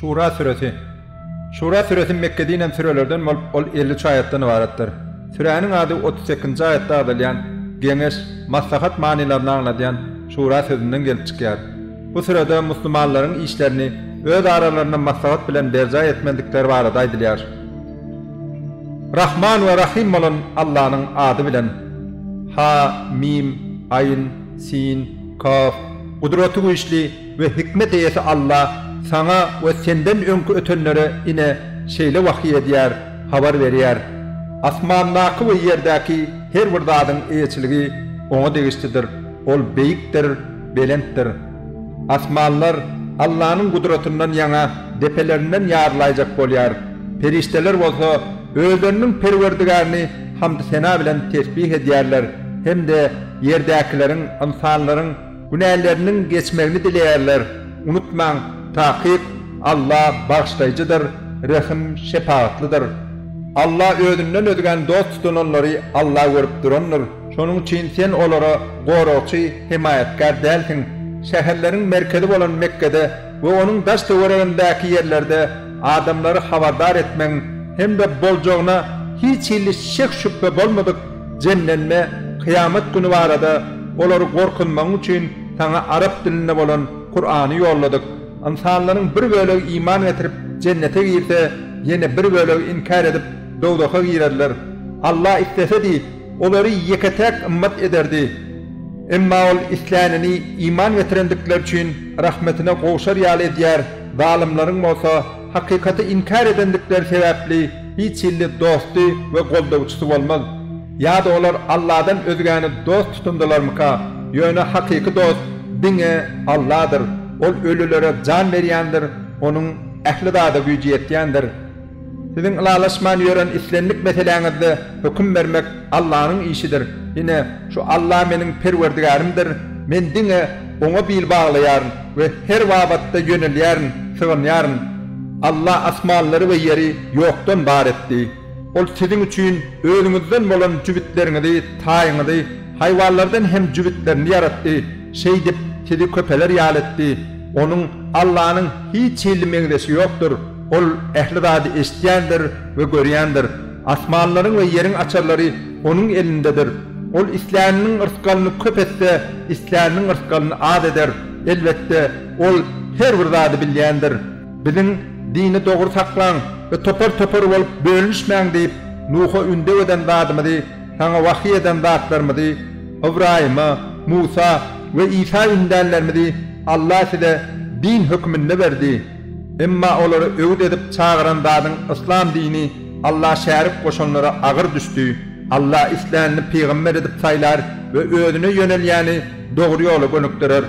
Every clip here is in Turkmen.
Şura süresi. Şura süresi Mekge dinen sürelerden bolup, ol elli üç aýatdan ybaratdyr. Süräniň ady otuz sekizinji aýatda agzalýan Geňeş, maslahat manylaryny aňladýan Şura sözünden gelip çykýar. Bu sürede musulmanlaryň işlerini öz aralarynda maslahat bilen berjaý etmedikleri barada aýdylýar. Rahman we Rahym bolan Allanyň ady bilen. Ha, Mim, Aýn, Sin. Kaf. Gudraty güýçli we hikmet eýesi Alla saňa we senden öňki ötenlere ine, şeýle wahyý edýär, habar berýär. Asmandaky we ýerdäki her bir zadyň eýeçiligi Oňa degişlidir, Ol Beýikdir, Belentdir. Asmanlar Allanyň gudratyndan ýaňa depelerinden ýarylaýjak bolýar, perişdeler bolsa özleriniň Perwerdigärini hamdy-sena bilen tesbih edýärler hem-de ýerdäkileriň, ynsanlaryň, günäleriniň geçmegini dileýärler. Unutmaň, takyk Alla Bagyşlaýjydyr, Rehim, Şepagatlydyr. Alla özünden özgäni dost tutananlary Alla görüp durandyr. Şonuň üçin sen olara goragçy, hemaýatkär dälsiň. Şäherleriň merkezi bolan Mekgede we onuň daş-töweregindäki ýerlerde adamlary habardar etmegiň hem-de boljagyna hiç hili şek-şübhe bolmadyk jemlenme Kyýamat güni barada olary gorkuzmagyň üçin saňa arap dilinde bolan Kurany ýolladyk. Ynsanlaryň bir bölegi iman getirip, jennete girse, ýene bir bölegi inkär edip, dowzaha girerler. Alla islesedi, Olary ýeke-täk ymmat ederdi. Emma Ol islänini iman getirendikleri üçin rahmetine gowşar ýaly edýär, zalymlaryň bolsa hakykaty inkär edendikleri sebäpli hiç hilli dosty we goldawçysy bolmaz. Ýa-da olar Alladan özgäni dost tutundylarmyka? Ýöne hakyky dost diňe Alladyr. Ol ölülere jan berýändir, Onuň ähli zada güýji ýetýändir. Siziň ylalaşman ýören islendik meseläňizde höküm bermek Allanyň işidir. Ine, şu Alla meniň Perwerdigärimdir, men diňe Oňa bil baglaýaryn we her babatda ýönelýärin, sygynýaryn. Alla asmanlary we ýeri ýokdan bar etdi. Ol siziň üçin özüňizden bolan jübütleriňizi, taýyňyzy, haýwanlardan hem jübütlerini ýaratdy, şeýdip, sizi köpeler ýaly etdi. Onuň, Allanyň, hiç hili meňzeşi ýokdur. Ol ähli zady eşidýändir we görýändir. Asmanlaryň we ýeriň açarlary Onuň elindedir. Ol isläniniň rysgalyny köp etse, isläniniň rysgalyny az eder. Elbetde, Ol her bir zady bilýändir. Biziň, Dini dogry saklaň we topar-topar bolup bölünişmäň diýip, Nuha ündew eden zadymyzy, saňa wahyý eden zatlarymyzy, Ybraýyma, Musa we Isa ündänlerimizi Allah size din höküminde berdi. Emma olary öwüt edip çagyran zadyň yslam dini Alla şärik goşanlara agyr düşdi. Alla islänini pygamber edip saýlar we özüne ýönelýäni dogry ýola gönükdirer.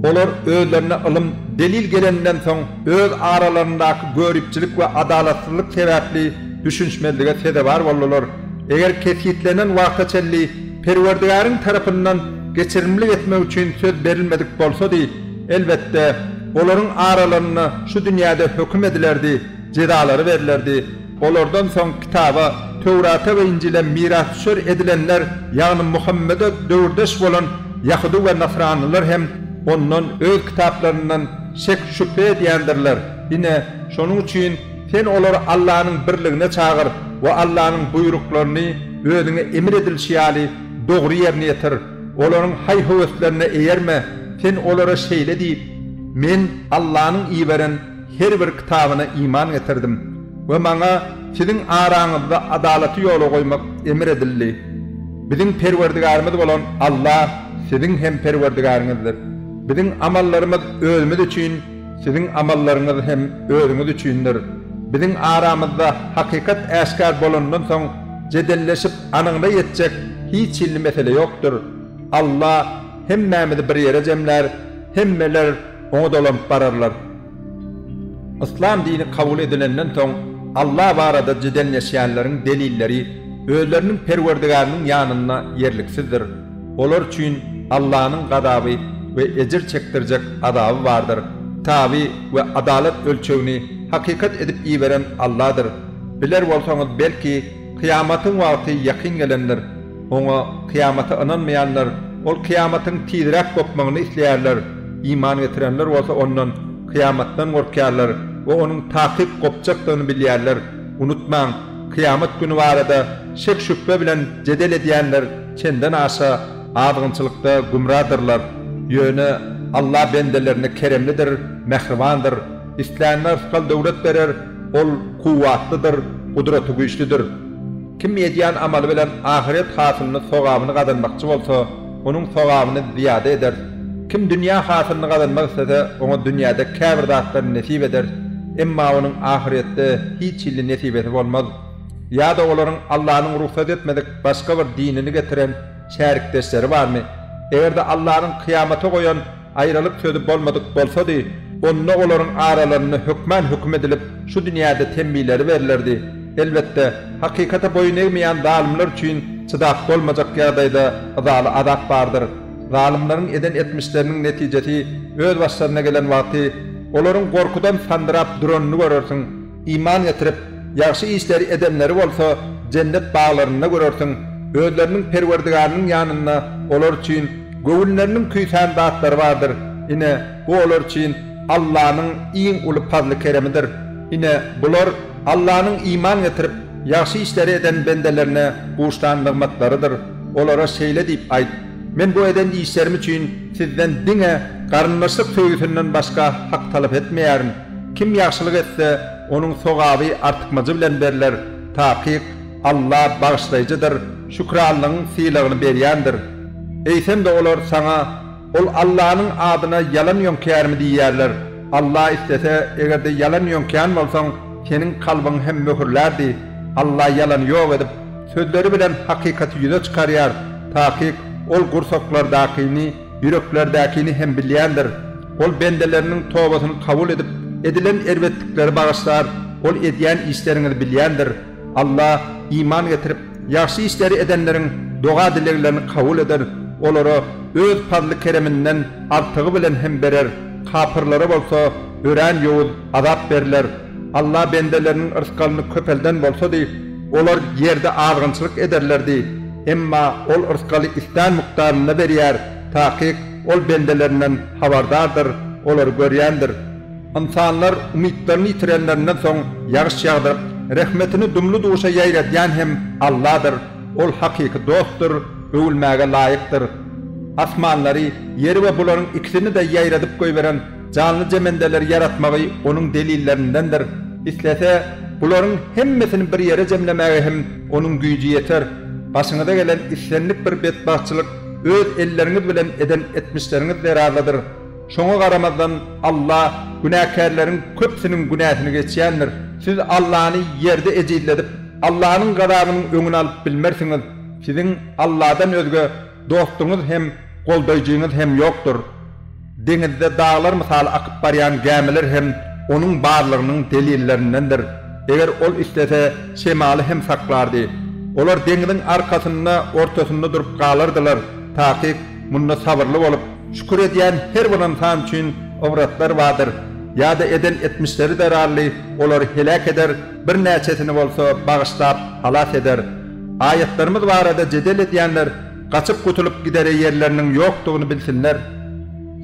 Olar özlerine ylym, delil geleninden soň öz aralaryndaky göripçilik we adalatsyzlyk sebäpli düşünişmezlige sezewar boldular. Eger kesgitlenen wagta çenli Perwerdigäriň tarapyndan geçirimlik etmek üçin söz berilmedik bolsady, Elbetde, olaryň aralarynda şu dünýäde höküm edilerdi, jezalary berlerdi. Olardan soň Kitaba, Töwrata we Injile mirasdüşer edilenler, ýagny Muhammede döwürdeş bolan ýahudy we nasranylar hem ondan, öz kitaplaryndan, şek-şübhe edýändirler. Ine, şonuň üçin sen olary Allanyň birligine çagyr we Allanyň buýruklaryny özüňe emir edilişi ýaly dogry ýerine ýetir. Olaryň haý-höweslerine eýerme, sen olara şeýle diý, Men Allanyň iberen her bir kitabyna iman getirdim we maňa siziň araňyzda adalaty ýola goýmak emr edildi. Biziň Perwerdigärimiz bolan Alla siziň hem Perwerdigäriňizdir. Biziň amallarymyz özümiz üçin, siziň amallaryňyz hem özüňiz üçindir. Biziň aramyzda hakykat äşgär bolandan soň jedelleşip, Anyňda ýetjek hiç hilli mesele ýokdur. Alla hemmämizi bir ýere jemlär, hemmeler Oňa dolanyp bararlar. Yslam dini kabul edilenden soň Alla barada jedelleşýänleriň delilleri özleriniň Perwerdigäriniň ýanynda ýerliksizdir. Olar üçin Allanyň gazaby we ejir çekdirjek azaby bardyr. Taby we adalat ölçegini hakykat edip iberen Alladyr. Biler bolsaňyz belki, Kyýamatyň wagty ýakyn gelendir. Oňa, kyýamata, ynanmaýanlar, ol kyýamatyň tizräk gopmagyny isleýärler, iman getirenler bolsa ondan, kyýamatdan, gorkýarlar we onuň takyk gopjakdygyny bilýärler. Unutmaň, kyýamat güni barada şek-şübhe bilen jedel edýänler çenden aşa azgynçylykda gümradyrlar. Ýöne Alla bendelerine keremlidir, mähribandyr. Isläne rysgal-döwlet berer. Ol kuwwatlydyr, gudratygüýçlidir. Kim edýän amaly bilen ahyret hasylyny, sogabyny gazanmakçy bolsa, onuň sogabyny zyýada ederis. Kim dünýä hasylyny gazanmak islese, oňa dünýäde käbir zatlary nesip ederis, emma onuň ahyretde hiç hilli nesibesi bolmaz. Ýa-da olaryň Allanyň rugsat etmedik başga bir dinini getiren şärikdeşleri barmy? Eger-de Allanyň kyýamata goýan. Aýralyk sözi bolmadyk bolsady, onda olaryň aralarynda hökman höküm edilip, şu dünýäde temmileri berlerdi. Elbetde, hakykata boýun egmeýän zalymlar üçin çydap bolmajak ýagdaýda yzaly azap bardyr. Zalymlaryň eden etmişleriniň netijesi öz başlaryna gelen wagty, olaryň gorkudan sandyrap duranyny görersiň. Iman getirip, ýagşy işleri edenleri bolsa jennet baglarynda görersiň, özleriniň Perwerdigarnyň ýanynda olar üçin göwünleriniň küýsän zatlary bardyr, ine, bu olar üçin Allanyň iň uly pazly-keremidir. Ine, bular Allanyň iman getirip, ýagşy işleri eden bendelerine buşlan nygmatlarydyr. Olara şeýle diýip aýt, Men bu eden işlerim üçin sizden diňe garyndaşlyk söýgüsinden başga hak talap etmeýärin. Kim ýagşylyk etse, onuň sogaby artykmajy bilen berler, takyk, Alla Bagyşlaýjydyr, Şükranlygyň sylagyny berýändir. Eýsem-de olar saňa, Ol Allanyň adyna ýalan ýöňkärmi? diýerler. Alla islese, eger-de ýalan ýöňkän bolsaň, seniň kalbyňy hem möhürlärdi. Alla ýalany ýok edip, sözleri bilen hakykaty ýüze çykarýar, takyk, Ol gursaklardakyny, Ýüreklerdäkini hem bilýändir. Ol bendeleriniň tobasyny kabul edip, edilen erbetlikleri bagyşlar. Ol edýän işleriňizi bilýändir. Alla, iman getirip, ýagşy işleri edenleriň doga-dileglerini kabul eder, olara Öz pazly-kereminden artygy bilen hem berer. Kapyrlara bolsa örän ýowuz azap berler. Alla bendeleriniň rysgalyny köpelden bolsady, olar ýerde azgynçylyk ederlerdi. Emma Ol yrsgaly islän mukdarynda berýär, takyk Ol bendelerinden habardardyr, olary görýändir. Ynsanlar umytlaryny ýitirenlerinden soň ýagyş ýagdyryp, rehmetini dumly-duşa ýaýradýan hem Alladyr, Ol hakyky dostdur, öwülmäge laýykdyr. Asmanlary, ýeri we bularyň ikisini-de ýaýradyp goýberen Janly jemendeleri ýaratmagy onuň delillerindendir. Islese, bularyň hemmesini bir ýere jemlemäge hem onuň güýji ýeter. Başyňyza gelen islendik bir betbagtçylyk öz elleriňiz bilen eden etmişleriňiz zerarlydyr. Şoňa garamazdan, Alla günäkärleriň köpüsiniň günäsini geçýändir. Siz Allany ýerde ejizledip, Allanyň gazabynyň öňüni alyp bilmersiňiz. Siziň Alladan özge dostuňyz hem, goldaýjyňyz hem ýokdur. Deňizde daglar mysaly akyp barýan gämiler hem onuň barlygynyň delillerindendir. Eger ol islese, şemaly hem saklardy. Olar deňiziň arkasynda, ortasynda durup galardylar. Takyk, munda sabyrly bolup, şükür edýän her bir ynsan üçin ybratlar bardyr. Ýa-da eden etmişleri zerarly olary heläk eder, birnäçesini bolsa bagyşlap, halas eder. Aýatlarymyz barada jedel edýänler Gaçyp gutulyp gidere ýerleriniň ýokdugyny bilsinler.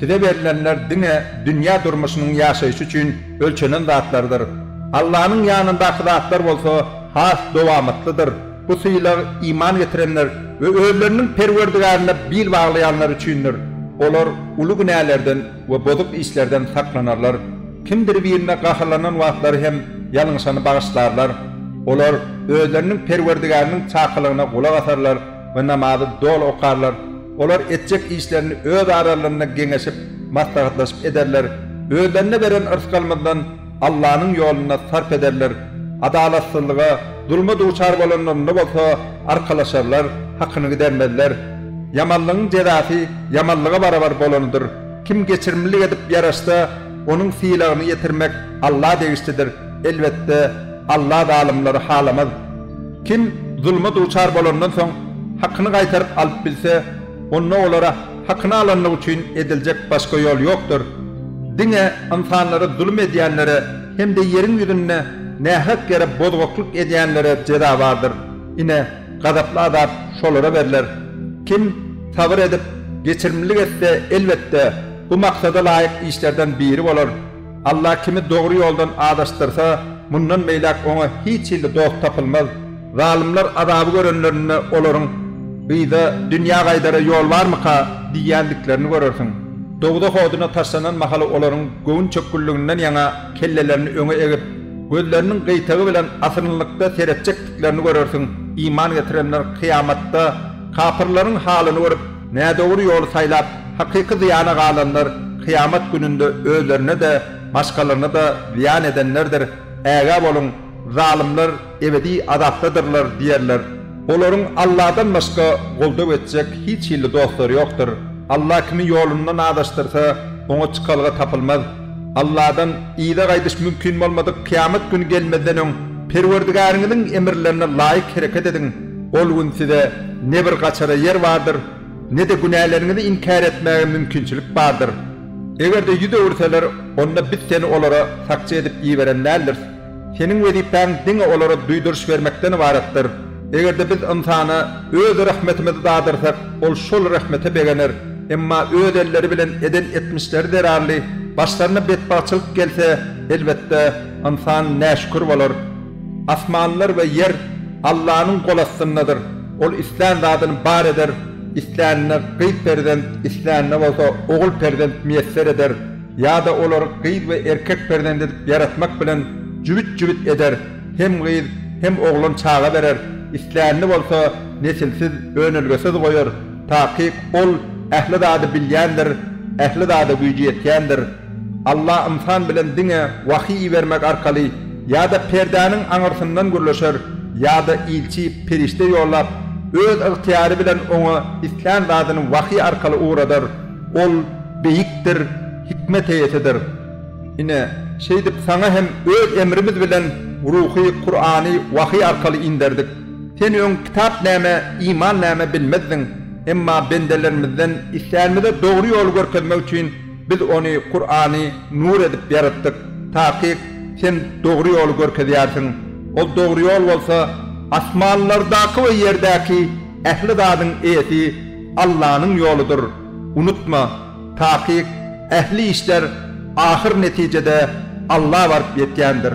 Size berlenler diňe dünýä durmuşynyň ýaşaýşy üçin ölçenen zatlardyr. Allanyň ýanyndaky zatlar bolsa has dowamatlydyr. Bu sylag iman getirenler we özleriniň Perwerdigärine bil baglaýanlar üçindir. Olar uly günälerden we bozuk işlerden saklanarlar. Kimdir birine gaharlanan wagtlary hem ýalňyşany bagyşlarlar. Olar özleriniň Perwerdigäriniň çakylygyna gulak asarlar. we namazy doly okarlar, olar etjek işlerini öz aralarynda geňeşip, maslahatlaşyp ederler, özlerine beren yrsgalymyzdan Allanyň ýolunda sarp ederler, adalatsyzlyga, zulma duçar bolanlarynda bolsa arkalaşarlar, hakyny gidermezler. Ýamanlygyň jezasy ýamanlyga barabar bolanydyr. Kim geçirimlilik edip ýaraşsa, onuň sylagyny ýetirmek Alla degişlidir, elbetde, Alla zalymlary halamaz. Kim zulma duçar bolandan soň hakyny gaýtaryp alyp bilse, onda olara hakyny alanlygy üçin ediljek başga ýol ýokdur. Diňe ynsanlara zulum edýänlere hem-de ýeriň ýüzünde nähak ýere bozgaklyk edýänlere jeza bardyr. Ine, gazaply azap şolara berler. Kim sabyr edip, geçirimlilik etse, elbetde, bu maksada laýyk işlerden biri bolar. Allah kimi dogry ýoldan azaşdyrsa, mundan beýläk oňa hiç hilli dost tapylmaz. Zalymlar azaby görenlerinde olaryň, Gyza dünýä gaýdara ýol barmyka? diýýändiklerini görersiň. Dowzah oduna taşlanan mahaly olaryň göwün çökgünliginden ýaňa kellelerini öňe egip, gözleriniň gyýtagy bilen asyrynlykda seretjekdiklerini görersiň, iman getirenler kyýamatda kapyrlaryň halyny görüp, Nädogry ýoly saýlap, hakyky zyýana galanlar kyýamat gününde özlerine-de, başgalaryna-da zyýan edenlerdir. Ägä boluň, zalymlar ebedi azapdadyrlar diýerler. Olaryň Alladan başga goldaw etjek hiç hili dostlary ýokdur. Alla kimi ýolundan azaşdyrsa, oňa çykalga tapylmaz. Alladan yza gaýdyş mümkin bolmadyk kyýamat güni gelmezden öň Perwerdigäriňiziň emirlerine laýyk hereket ediň. Ol gün size ne bir gaçara ýer bardyr, ne-de günäleriňizi inkär etmäge mümkinçilik bardyr. Eger-de ýüz öwürseler, onda biz seni olara sakçy edip iberen däldiris. Seniň wezipäň diňe olara duýduryş bermekden ybaratdyr. Eger-de biz ynsana Öz rehmetimizi dadyrsak, ol şol rehmete begener, emma öz elleri bilen eden etmişleri zerarly başlaryna betbagtçylyk gelse, elbetde, ynsan näşükür bolar. Asmanlar we ýer Allanyň gol astyndadyr. Ol islän zadyny bar eder, islänine gyz perzent, islänine bolsa ogul perzent miýesser eder, ýa-da olary gyz we erkek perzent edip ýaratmak bilen jübüt-jübüt eder, hem gyz, hem oglan çaga berer, islänini bolsa nesilsiz, önelgesiz goýar. Takyk Ol ähli zady bilýändir, ähli zada güýji ýetýändir. Alla ynsan bilen diňe wahyý ibermek arkaly ýa-da perdäniň aňyrsyndan gürleşer ýa-da ilçi, perişde ýollap, öz ygtyýary bilen oňa islän zadyny wahyý arkaly ugradar. Ol beýikdir, hikmet eýesidir. Ine, şeýdip saňa hem öz emrimiz bilen Ruhy, Kurany, wahyý arkaly inderdik. Sen öň kitap näme, iman näme bilmezdiň. Emma bendelerimizden islänimize dogry ýoly görkezmek üçin Biz ony, Kurany, nur edip ýaratdyk. Takyk, Sen dogry ýoly görkezýärsiň. Ol dogry ýol bolsa, asmanlardaky we ýerdäki ähli zadyň eýesi Allanyň ýoludyr. Unutma, takyk, ähli işler ahyr netijede Alla baryp ýetýändir.